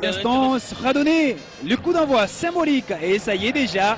Instance radonnée, le coup d'envoi symbolique et ça y est déjà.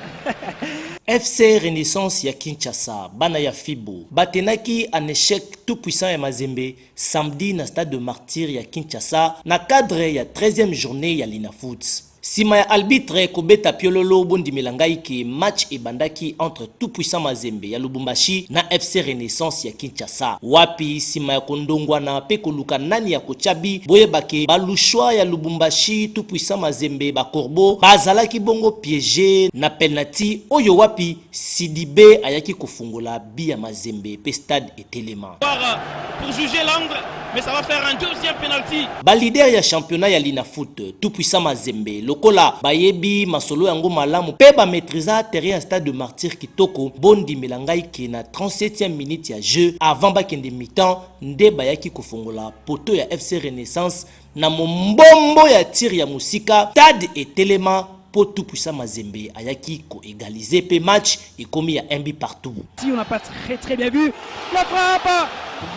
FC Renaissance ya Kinshasa, bana ya Fibo, batenaki en échec tout puissant ya Mazembe samedi na stade de Martyr ya Kinshasa na cadre ya 13e journée ya Linafoot. Sima ya arbitre kobeta piololo bondimela ngai ke match ebandaki entre tout puissant Mazembe ya Lubumbashi na FC Renaissance ya Kinshasa. sa wapi sima ya kondongwana pe koluka nani ya kotia bi boyeba ke ba lushwa ya lubumbashi tout puissant mazembe ba corbeaux ba zalaki bongo piege na pelnati oyo wapi sidibe ayaki kofungola bi ya mazembe pe stade etelema. Var pour juger l'angle mais ça va faire un deuxième penalty. Ba leader ya championnat ya linafoot tout puissant mazembe lokola ba yebi masolo yango malamu pe ba maitrisa terrain ya stade de martyrs kitoko bo ndimela ngai ke na 37e minute ya jeu avant bakende mi-temps nde bayaki kofongola poteau ya FC Renaissance na mombombo ya tir ya mosika Tad etelema po tout puissant Mazembe ayaki ko egaliser pe match ekomi ya un but partout. Si on n'a pas très très bien vu la frappe,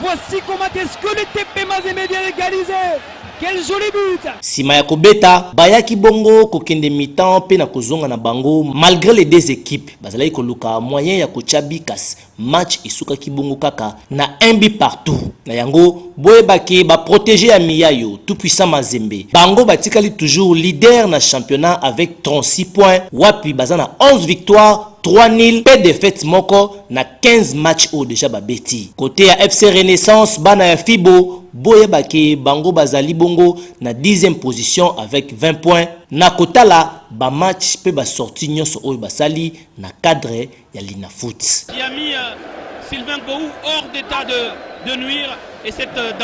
voici comment est-ce que le TP Mazembe vient égaliser. Quel joli but! Sima ya kobeta, bayaki bongo kokende mi-temps pe na kozonga na bango malgré les deux équipes. Bazalaki koluka moyen ya kotya bi kasi match esukaki bongo kaka na un but partout. Na yango, boyeba ke ba proteges ya Miyayo, tout puissant Mazembe, bango batikali toujours leader na championnat avec 36 points wapi baza na 11 victoires, 3 nuls mpe defaite moko na 15 matchs oyo dejà babeti. Cote ya FC Renaissance, bana ya Fibo, boyeba ke bango bazali bongo na dixième position avec 20 points na kotala ba matchs mpe ba sorties nyonso oyo basali na cadre ya Linafoot.